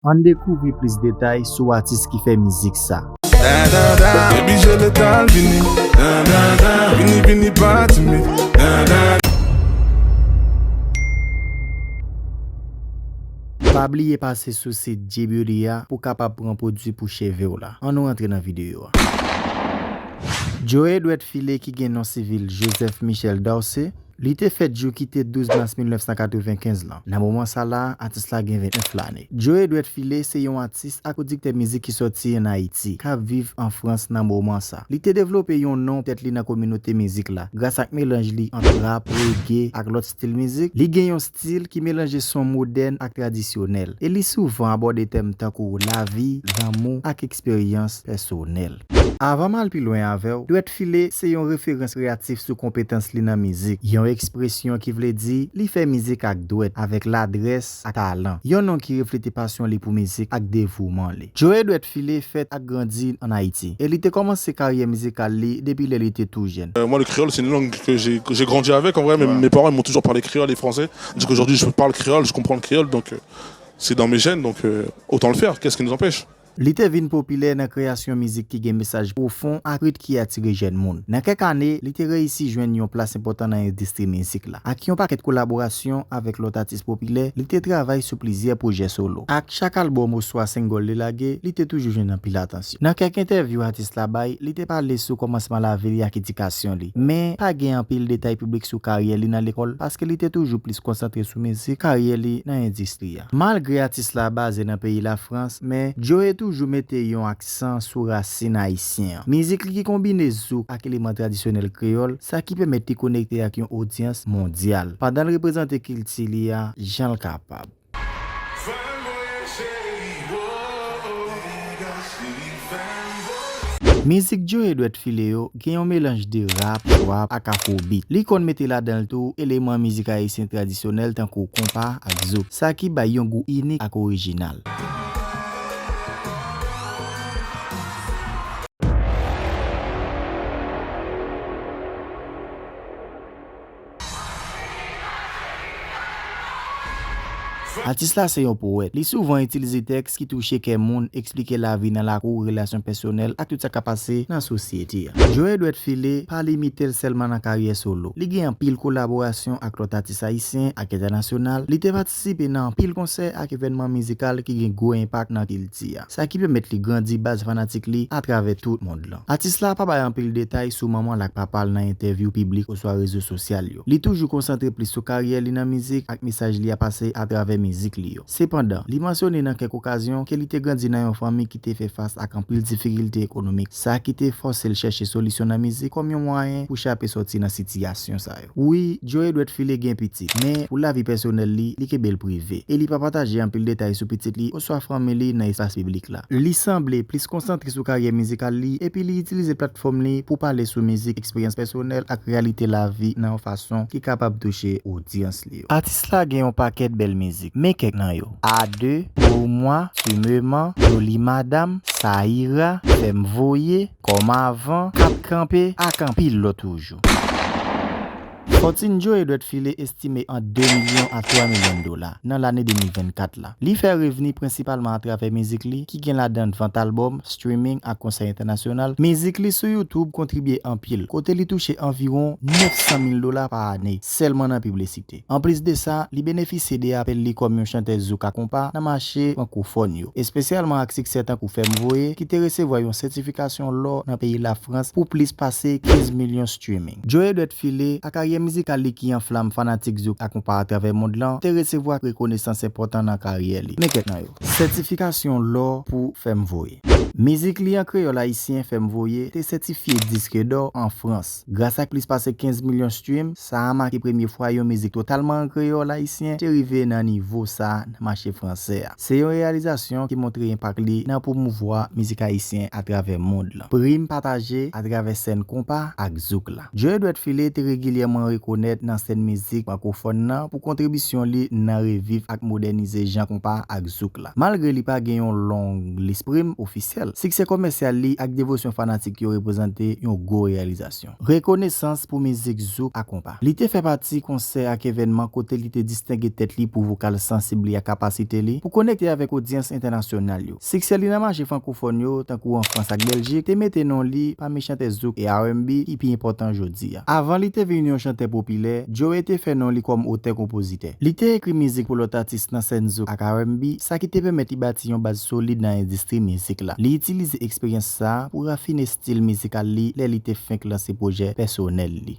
Ann dekouvri plis detay sou atis ki fè mizik sa. Pa bliye pase sou sit G-Beauty a pou kapab pran pwodwi pou cheve w la. An nou rantre nan videyo a. Joe dwèt file ki gen non sivil Joseph Michel Dorcé, Li te fèt jou ki te 12 mas 1995 lan. Nan moman sa la, atis la gen 29 lane. Joe Edwet Philé se yon atis ak pwodiktè mizik ki sòti an Ayiti, kap viv an Frans nan moman sa. Li te devlope yon non tèt li nan kominote mizik la, gras ak melanj li ant rap, reggae ak lòt stil mizik. Li gen yon stil ki melanje son modèn ak tradisyonèl, e li souvan abòde tèm tankou lavi, lanmou ak eksperyans pèsonèl. Avan m al pi lwen avè w, Dwèt File se yon referans kreyatif sou konpetans li nan mizik, yon ekspresyon ki vle di li fè mizik ak dwèt, avèk ladrès ak talan, yon non ki reflete pasyon li pou mizik ak devouman li. Joe Dwèt File fèt ak grandi an Ayiti, e li te kòmanse karyè mizikal li depi lè li te tou jèn. Moi le créole c'est une langue que j'ai grandi avec en vrai mes mes parents ils m'ont toujours parlé créole et français du coup aujourd'hui je parle créole je comprends le créole donc c'est dans mes gènes donc autant le faire qu'est ce qui nous empêche. Li te vin popilè nan kreyasyon mizik ki gen mesaj pwofon ak rit ki atire jèn moun. Nan kèk ane, li te reyisi jwenn yon plas enpòtan nan endistri mizik la. Ak yon pakèt kolaborasyon avèk lòt atis popilè, li te travay sou plizyè pwojè solo. Ak chak albòm oswa single li lage, li te toujou jwenn anpil atansyon. Nan kèk entèvyou atis la bay, li te pale sou kòmansman lavi li ak edikasyon li. Men, pa gen anpil detay piblik sou karyè li nan lekòl paske li te toujou plis konsantre sou mizik, karyè li nan endistri. Malgre atis la baze nan peyi Lafrans men Joe toujou mete yon aksan sou rasin ayisyen. Mizik li ki konbine zouk ak eleman tradisyonèl kreyòl, sa ki pèmèt li konekte ak yon odyans mondyal, pandan l reprezante kilti li a jan l kapab. Fè mwen cheri woo, degaje Mizik Joe dwèt file yo gen yon melanj de rap, wap ak afrobeat. Li konn mete ladan l tou eleman mizik ayisyen tradisyonèl tankou konpa ak zouk, sa ki bay yon gou inik ak orijinal. Atis la se yon powèt. Li souvan itilize tèks ki touche kè moun, eksplike lavi nan lakou, relasyon pèsonèl, ak tout sa k ap pase nan sosyete a. Joe Dwèt File pa limite l sèlman nan karyè solo. Li gen anpil kolaborasyon ak lòt atis ayisyen ak entènasyonal. Li te patisipe. Patisipe nan anpil konsè ak evènman mizikal ki gen gwo enpak nan kilti a, sa ki pèmèt li grandi baz fanatik li atravè tout mond lan. Atis la pa bay anpil detay sou manman l ak papa l nan entèvyou piblik oswa rezo sosyal yo. Li toujou konsantre plis sou karyè li nan mizik ak mesaj li a pase atravè mizik li yo. Sepandan, li mansyone nan kèk okazyon ke li te grandi nan yon fanmi ki te fè fas ak anpil difikilte ekonomik, sa ki te fòse l chèche solisyon nan mizik kòm yon mwayen pou chape sòti nan sitiyasyon sa yo. Wi, Joe dwe t file gen pitit, men pou lavi pèsonèl li, li kenbe l prive, e li pa pataje anpil detay sou pitit li oswa fanmi li nan espas piblik la. Li sanble plis konsantre sou karyè mizikal li epi li itilize platfòm li pou pale sou mizik, eksperyans pèsonèl ak reyalite lavi nan yon fason ki kapab touche odyans li yo. Atis la gen yon pakèt bèl mizik, men kèk nan yo, A deux, Pour moi, Tu me mens, Jolie madame, Ça ira, Fèm voye, Kòm avan, ap kanpe ak anpil lòt toujou. Fòtin Joe dwèt file estime ant 2 milyon a 3 milyon dola nan lane 2024 la. Li fè revni prensipalman atravè mizik li ki gen ladan vant albòm, streaming ak konsè entènasyonal. Mizik li sou YouTube kontribye anpil, kote li touche anviwon 900 mil dola pa ane sèlman nan piblisite. Anplis de sa, li benefisye de apèl li kòm yon chantèz zouk a konpa nan mache frankofòn yo, espesyalman ak siksè tankou Fè m voye ki te resevwa yon sètifikasyon lò nan peyi Lafrans pou plis pase 15 milyon streaming. Joe dwèt file, ak karyè mizikal li ki anflam fanatik zouk a konpa atravè mond lan, te resevwa rekonesans enpòtan nan karyè li. Men kèk nan yo. Sètifikasyon lò pou Fè m voye. Mizik li an kreyòl ayisyen Fè m voye te sètifye diske dò an Frans. Gras ak plis pase 15 milyon stream, sa a make premye fwa yon mizik totalman an kreyòl ayisyen te rive nan nivo sa a nan mache fransè a. Se yon reyalizasyon ki montre enpak li nan pwomouvwa mizik ayisyen atravè mond lan. Prim pataje atravè sèn konpa ak zouk la. Joe Dwèt File te regilyèman rekonèt nan sèn mizik frankofòn lan pou kontribisyon li nan reviv ak modènize jan konpa ak zouk la. Malgre li pa gen yon long lis prim ofisyèl, siksè komèsyal li ak devosyon fanatik yo reprezante yon gwo reyalizasyon. Rekonesans pou mizik zouk a konpa. Li te fè pati konsè ak evènman kote li te distenge tèt li pou vokal sansib li ak kapasite li pou konekte avèk odyans entènasyonal yo. Siksè li nan mache frankofòn yo, tankou an Frans ak Bèljik, te mete non li pami chantè zouk e RnB ki pi enpòtan jodi. Avan li te vin yon chantè popilè, Joe te fè non li kòm otè-konpozitè. Li te ekri mizik pou lòt atis nan sèn zouk ak RnB, sa ki te pèmèt li bati yon baz solid nan endistri mizik la. Li itilize eksperyans sa a pou rafine stil mizikal li lè li te fenk lanse pwojè pèsonèl li.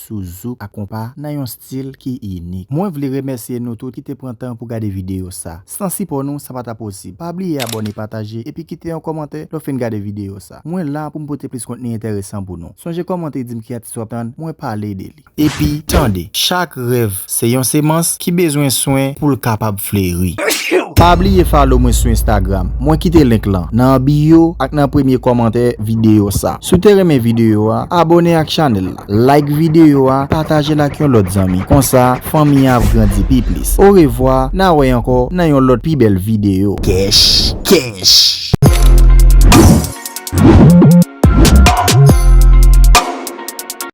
sou zouk ak konpa nan yon stil ki inik. Mwen vle remèsye nou tout ki te pran tan pou gade videyo sa. San sipò nou sa pa ta posib. Pa bliye abòne, pataje, epi kite yon kòmantè lè w fin gade videyo sa. Mwen la pou m pote plis kontni enteresan pou nou. Sonje kòmante e di m ki atis w ap tann mwen pale de li. Epi, tande! Chak rèv Se yon semans ki bezwen swen poul kapab fleri. Pa bliye follow mwen sou Instagram, mwen kite link lan nan bio ak nan premye kòmantè video sa. Si w te renmen video a, abone ak chanèl la, like video a, patajel ak yon lòt zanmi, konsa fanmi an ap grandi pi plis. Orevwa, na wè ankò nan yon lòt pi bèl video. Kèch kèch.